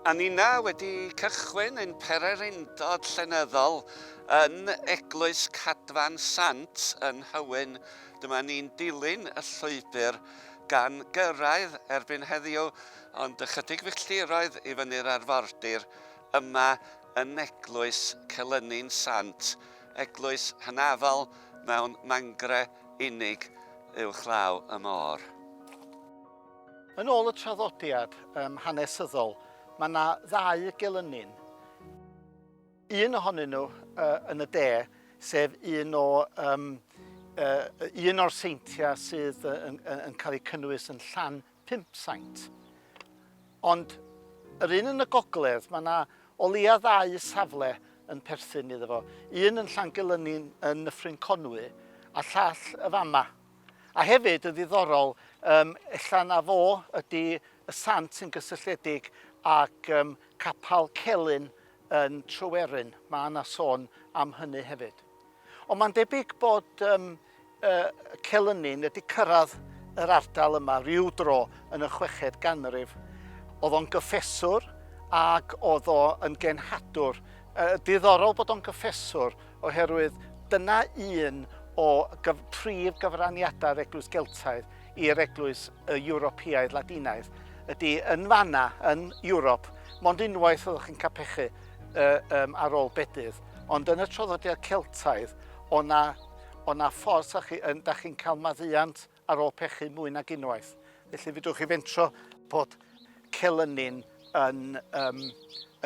A ninna wedi cychwyn ein pererindod llenyddol yn Eglwys Cadfan Sant yn Nhywyn. Dyma ni'n dilyn y llwybr gan gyrraedd erbyn heddiw, ond ychydig filltiroedd i fyny'r arfordir, Yma yn Eglwys Celyni'n Sant, eglwys hynafol mewn mangre unig uwchlaw y môr. Yn ôl y traddodiad um, hanesyddol, mae yna ddau gelynnin. Un ohonyn nhw uh, yn y de, sef un o um, uh, un o'r seintiau sydd yn, yn, yn cael eu cynnwys yn Llan Pump saint. Ond yr un yn y gogledd, mae yna o leia ddau safle yn perthyn iddo fo. Un yn Llangelyni yn Nyffryn Conwy a llall y fama. A hefyd yn ddiddorol, um, ella na fo ydy y sant sy'n gysylltiedig ag um, capal Celyn yn Tryweryn. Mae yna sôn am hynny hefyd. Ond mae'n debyg bod um, uh, Celynnin wedi cyrraedd yr ardal yma rhyw dro yn y chweched ganrif. Oedd o'n gyffeswr ac oedd o yn genhadwr. Uh, diddorol bod o'n gyffeswr oherwydd dyna un o gyf prif gyfraniadau'r Eglwys Geltaidd i'r Eglwys y Ewropeaidd Ladinaidd ydy yn fanna, yn Ewrop, mond unwaith oeddech chi'n capechu uh, um, ar ôl bedydd. Ond yn y traddodiad Celtaidd, o' 'na o' 'na ffordd 'sa chi yn... 'dach chi'n cael maddeuant ar ôl pechu mwy nag unwaith. Felly fedrwch chi fentro bod celynnyn yn um,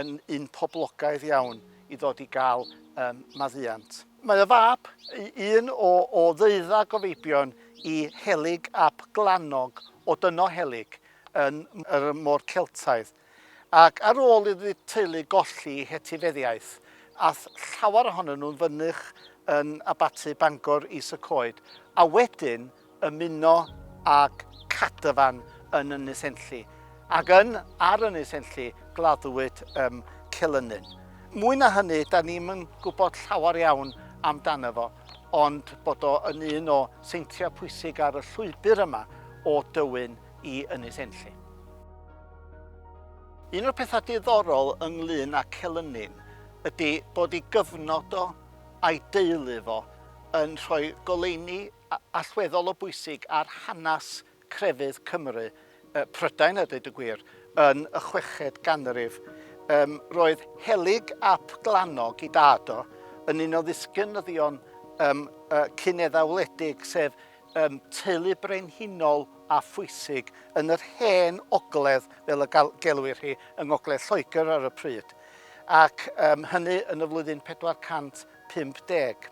yn un poblogaidd iawn i ddod i gael um, maddeuant. Mae y fab, un o, o ddeuddag o feibion i Helig ap Glannog o Dyno Helig yn yr Môr Celtaidd. Ac ar ôl i'r ddwy teulu golli hetifeddiaeth, ath llawer ohonyn nhw'n fynych yn Abaty Bangor Is-y-coed, a wedyn ymuno ag Cadafan yn Ynys Enlli, ac yn ar Ynys Enlli gladdwyd ym Mhelynnyn. Mwy na hynny, da ni'm yn gwybod llawer iawn amdano fo, ond bod o yn un o seintiau pwysig ar y llwybr yma o Dywyn i Ynys Enlli. Un o'r pethau diddorol ynglŷn â Celynnin ydy bod ei gyfnod o a'i deulu fo yn rhoi goleuni allweddol o bwysig ar hanes crefydd Cymru, Prydain a dweud y gwir, yn y chweched ganrif. Yym, roedd Helyg ap Glannog, ei dad o, yn un o ddisgynyddion um, uh, cyn-eddawledig, sef um, teulu brenhinol a phwysig yn yr hen ogledd, fel y gelwir hi, yng ngogledd Lloegr ar y pryd, ac um, hynny yn y flwyddyn 450.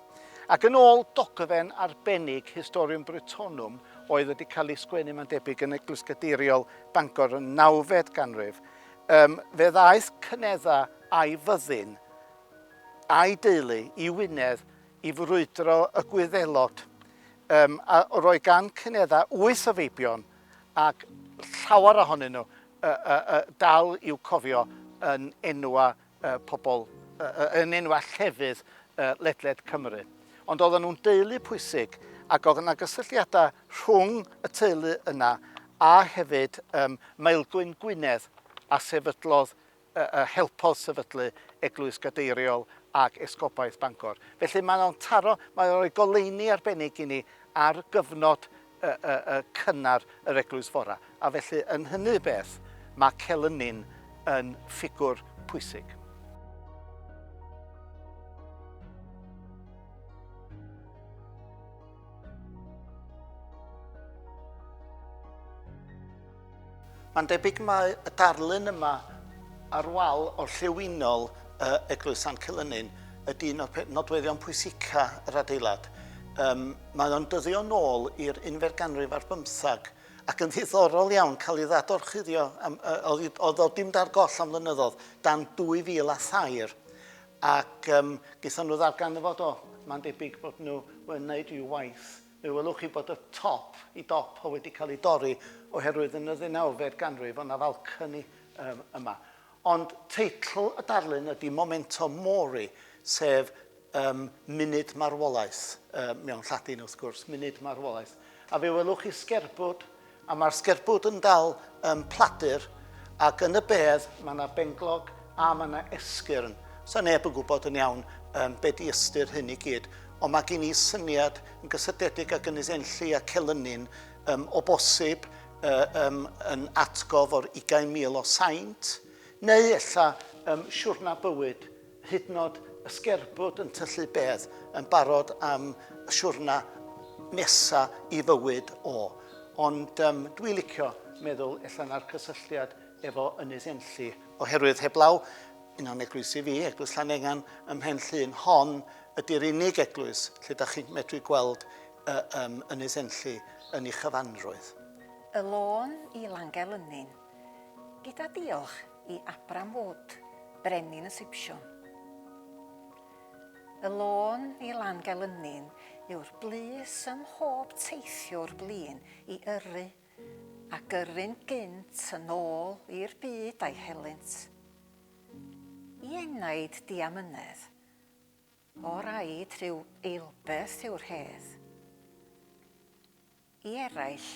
Ac yn ôl dogfen arbennig Historium Brittonum oedd wedi cael ei sgwennu mae'n debyg yn Eglwys Gadeiriol Bangor yn nawfed ganrif, um, fe ddaeth cynedda a'i fyddin a'i deulu i Wynedd i frwydro y Gwyddelod um, a roi gan cyneddau wyth o feibion ac llawer ohonyn nhw uh, uh, uh, dal i'w cofio yn enwa uh, pobl, uh, yn enwa llefydd uh, ledled Cymru. Ond oedden nhw'n deulu pwysig ac oedd yna gysylltiadau rhwng y teulu yna a hefyd um, Maelgwyn Gwynedd a sefydlodd a helpodd sefydlu Eglwys Gadeiriol ac Esgobaeth Bangor. Felly mae o'n taro, mae o'n rhoi goleuni arbennig i ni ar gyfnod cynnar yr Eglwys Fora, a felly yn hynny beth mae Celynni'n yn ffigwr pwysig. Mae'n debyg mai y darlun yma ar wal orllewinol yy Eglwys Sant Celynnin ydy un o'r nodweddion pwysica yr adeilad. Um, mae o'n dyddio nôl i'r unfer ganrif ar bymthag ac yn ddiddorol iawn cael ei ddadorchuddio am, uh, o ddodi'n dar goll am flynyddoedd dan 2000 a thair ac um, gaethon nhw ddarganfod o. Mae'n debyg bod nhw yn wneud rhyw waith Fe welwch chi bod y top, y dop, wedi cael ei dorri oherwydd yn y ddeunawfed ganrif oedd 'na falcony yma. Ond teitl y darlun ydy Momento Mori, sef um, munud marwolaeth, uh, mewn Lladin wrth gwrs, munud marwolaeth. A fe welwch chi sgerbwd A mae'r sgerbwd yn dal ym Mhladur ac yn y bedd mae 'na benglog a mae 'na esgyrn. Sa neb yn gwybod yn iawn yym be' 'di ystyr hyn i gyd ond ma' gin i syniad yn gysylltedig ag Ynys Enlli a Celynnin yym o bosib yy yym yn atgof o'r ugain mil o saint neu ella yym siwrna bywyd hyd yn oed y sgerbwd yn tyllu bedd yn barod am y siwrna nesa i fywyd o. Ond um, dwi licio meddwl ella na'r cysylltiad efo Ynys Enlli, oherwydd heblaw un o'n eglwysi fi, Eglwys Llanengan ym Mhen Llŷn, hon ydy'r unig eglwys lle da chi'n medru gweld uh, um, Ynys Enlli yn ei chyfanrwydd. Y lôn i Langelynin. Gyda diolch i Abram Wood, brenin y Sipsiwn. Y lôn i Langelynnin yw'r blys ym mhob teithiwr blin i yrru, a gyrru'n gynt yn ôl i'r byd a'i helynt. I enaid diamynedd, o raid rhyw eilbeth yw'r hedd. I eraill,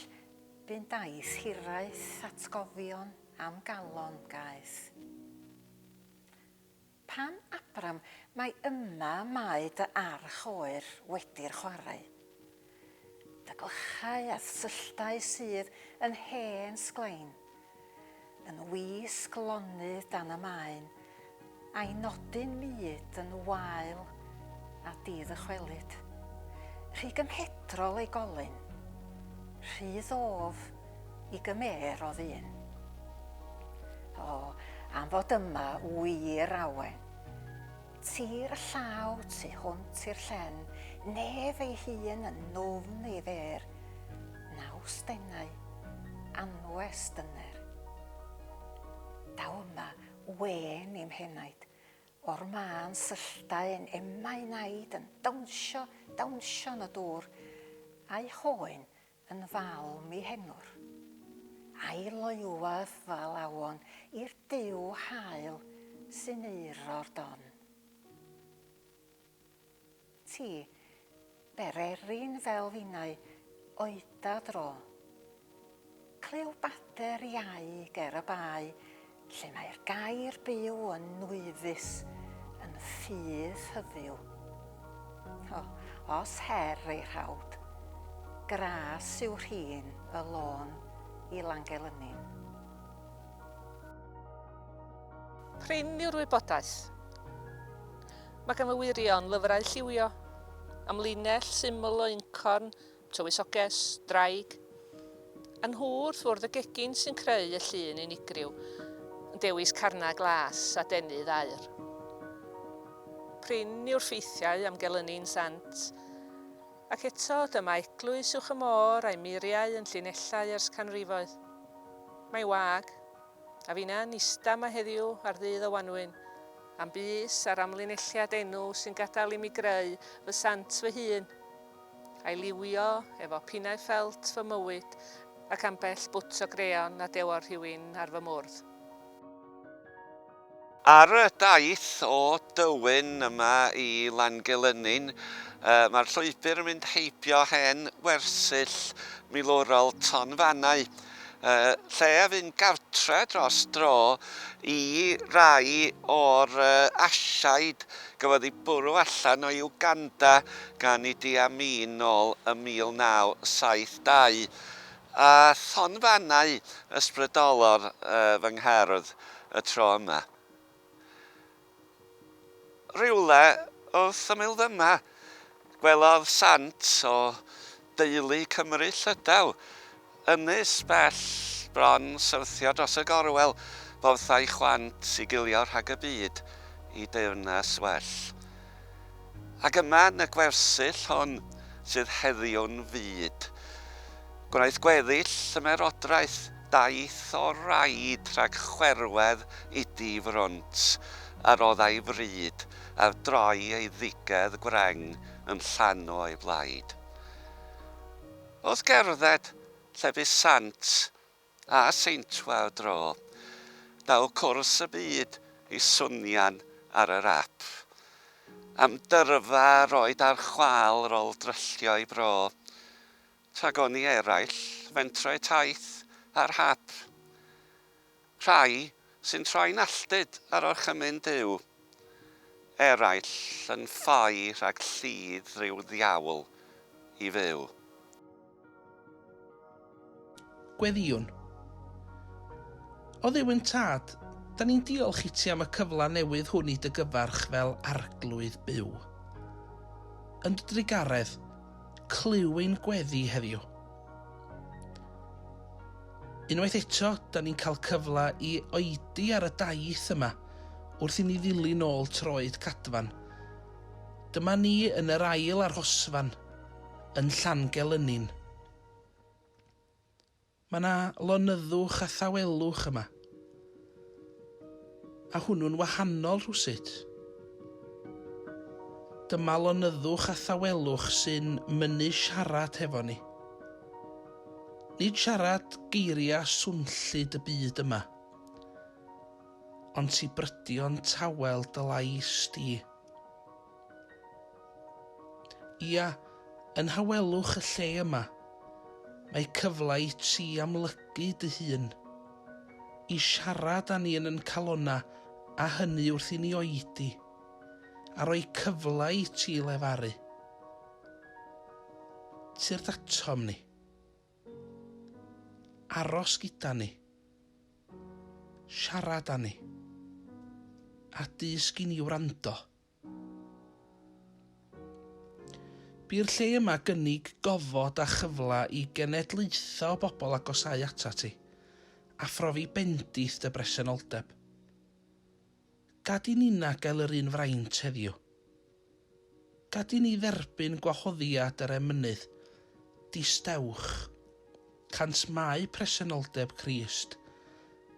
bu'n daith hiraeth atgofion am galon gaeth. Pan Abram, mai yma mae dy arch oer wedi'r chwarae. Dy glychau a thylltau sydd yn hen sglain, Yn wisg lonydd dan y maen, a'i nodyn mud yn wael a di-ddychwelyd. Rhy gymhedrol ei golyn, rhy ddof i gymêr o ddyn. O, am fod yma, wir, Awen. Tir y llaw tu hwnt i'r llen, nef ei hun yn nofn ei fêr, naws denau, anwes dyner. Daw yma wên i'm henaid, o'r mân sylltau'n emau naid yn dawnsio, dawnsio yn y dŵr, a'i hoen Yn falm i henwr. A'i loywaf fal awon i'r duw hael sy'n euro'r don. Ti, bererin fel finau oeda dro. Clyw bader iau ger y bae Lle mae'r gair byw yn nwyddus, yn ffydd hyfyw. O, os her ei rhawd, gras yw rhin y lôn i Langelynin. Prin yw'r wybodaeth. Mae gan y wirion lyfrau lliwio, am linell syml o uncorn Tywysoges, Ddraig. A nhw wrth fwrdd y gegin sy'n creu y llun unigryw, yn dewis carnau glas a denydd aur. Prin yw'r ffeithiau am gelynu'n sant. Ac eto, dyma eglwys uwch y môr a'i muriau yn llinellau ers canrifoedd. Mae'n wag, a finna'n ista yma heddiw ar ddydd o wanwyn, am bys a'r amlinelliad enw sy'n gadael i mi greu fy sant fy hun. a'i liwio efo pinnau ffelt fy mywyd ac ambell bwt o greon a dewodd rhywun ar fy mwrdd. Ar y daith o Dywyn yma i Langelynnin, mae'r llwybr yn mynd heibio hen wersyll milwrol Tonfannau, y lle a fynd gartre dros dro i rai o'r Asiaid gafodd eu bwrw allan o Uganda gan Idi Amin nôl ym 1972, a thonfannau ysbrydolor fy ngherdd y tro yma. Rywle wrth ymyl fyma, gwelodd sant o deulu Cymry Llydaw, ynys bell bron syrthio dros y gorwel, borthau chwant i gilio rhag y byd i deyrnas well. Ac yma yn y gwersyll hon sydd heddiw'n fyd, gwnaeth gweddill ymerodraeth daith o raid rhag chwerwedd idi frwnt, a roddai fryd ar droi ei ddigedd gwreng yn llanw ei blaid. Wrth gerdded lle bu sant a Seintua y dro. Daw cwrs y byd i swnio'n ar yr ap. Am dyrfa yr oed a'r chwâl rol dryllio i bro. Tragoni eraill, fentro'u taith ar hap. Rhai Sy'n troi'n alltud ar orchymyn Duw. Eraill yn ffoi rhag llid rhyw ddiawl i fyw. Gweddïwn. O Dduw ein Tad, da ni'n diolch i ti am y cyfle newydd hwn i dy gyfarch fel Arglwydd byw. Yn dy drugaredd, clyw ein gweddi heddiw. Unwaith eto, da ni'n cael cyfle i oedi ar y daith yma wrth i ni ddilyn ôl troed cadfan. Dyma ni yn yr ail arhosfan yn Llangelynin. Mae yna lonyddwch a thawelwch yma. A hwnnw'n wahanol rhywsut. Dyma lonyddwch a thawelwch sy'n mynnu siarad hefo ni. Nid siarad geiriau swnllyd y byd yma, ond ti brydion tawel dy lais di. Ia, yn hawelwch y lle yma, mae cyfle i ti amlygu dy hun, i siarad â ni yn yn calonnau a hynny wrth i ni oedi, a rhoi cyfle i ti lefaru tyrd atom ni, aros gyda ni, siarad â ni, a dysg i ni wrando. Bu'r lle yma gynnig gofod a chyfle i genedlaethau o bobl agosáu atat ti, a phrofi bendith dy bresenoldeb. Gad i ninna gael yr un fraint heddiw. Gad i ni dderbyn gwahoddiad yr emynydd, distewch. Cant Mae presenoldeb Crist,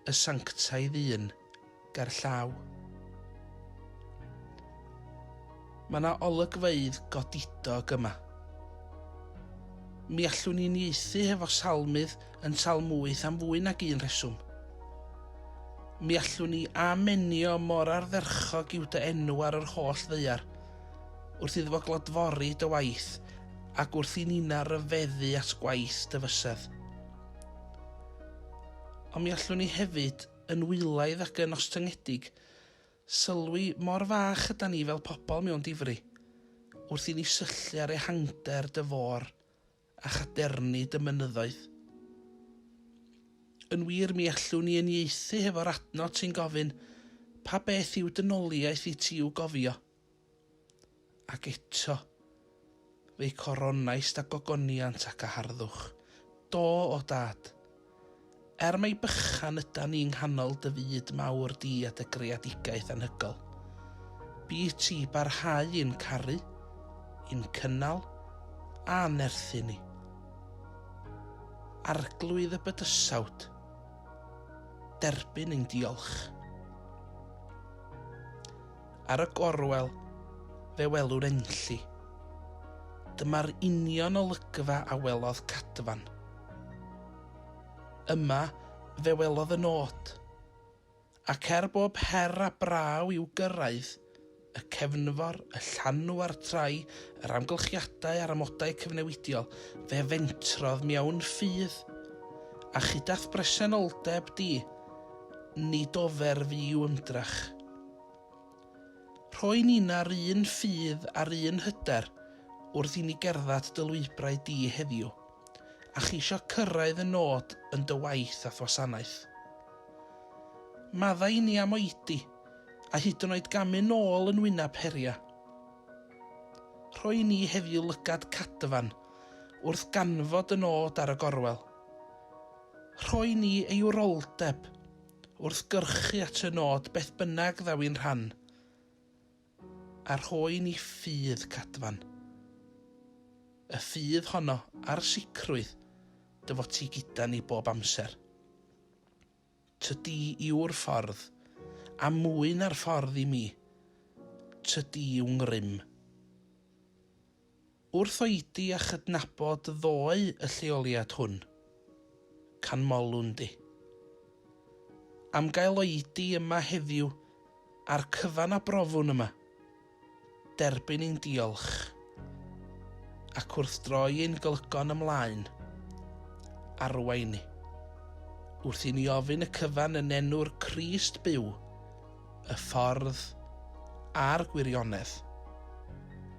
y sanctaidd un, gerllaw. Mae yna olygfeydd godidog yma. Mi allwn ni unieithu hefo Salmydd yn Salm 8 am fwy nag un rheswm. Mi allwn ni amenio mor ardderchog yw dy enw ar yr holl ddeiar, wrth iddo fo glodfori dy waith ac wrth i Nina ryfeddu at gwaith dy fysedd. Ond mi allwn ni hefyd, yn wylaidd ac yn ostyngedig, sylwi mor fach ydan ni fel pobl mewn difri, wrth i ni syllu ar ehangder dy fôr a chadernid y mynyddoedd. Yn wir, mi allwn ni uniaethu hefo'r adnod sy'n gofyn, Pa beth yw dynoliaeth i ti i'w gofio? Ac eto, fe'i coronaist â gogoniant ac â harddwch. Do, o Dad, Er mai bychan ydan ni yng nghanol dy fyd mawr di a dy greadigaeth anhygoel, bydd ti i barhau i'n caru, i'n cynnal a nerthu ni. Arglwydd y bydysawd, derbyn ein diolch. Ar y gorwel, fe welwr enlli. Dyma'r union olygfa a welodd Cadfan. Yma, fe welodd y nôt. Ac er bob her a braw i'w gyrraedd, y cefnfor, y llanw a'r trai, yr amgylchiadau a'r amodau cyfnewidiol, fe fentrodd mewn ffydd. A chyda'th bresenoldeb di, nid ofer fu i'w ymdrech. Rhoi nina'r un ffydd a'r un hyder wrth i ni gerddad dy lwybrau di heddiw. a cheisio cyrraedd y nod yn dy waith a'th wasanaeth. Maddau inni am oedi, a hyd yn oed gamu nôl yn wyneb heriau. Rhoi inni heddiw lygad cadfan wrth ganfod y nod ar y gorwel. Rhoi inni ei wroldeb wrth gyrchu at y nod beth bynnag ddaw i'n rhan. a rhoi i ni ffydd cadfan, y ffydd honno a'r sicrwydd dy fod ti gyda ni bob amser. Tydi yw'r ffordd, a mwy na'r ffordd i mi, tydi yw ngrym. Wrth oedi a chydnabod ddoe y lleoliad hwn, canmolwn di. Am gael oedi yma heddiw a'r cyfan a brofwn yma, derbyn ein diolch, ac wrth droi ein glygon ymlaen, arwain ni, wrth i ni ofyn y cyfan yn enw'r Crist byw, y ffordd a'r gwirionedd.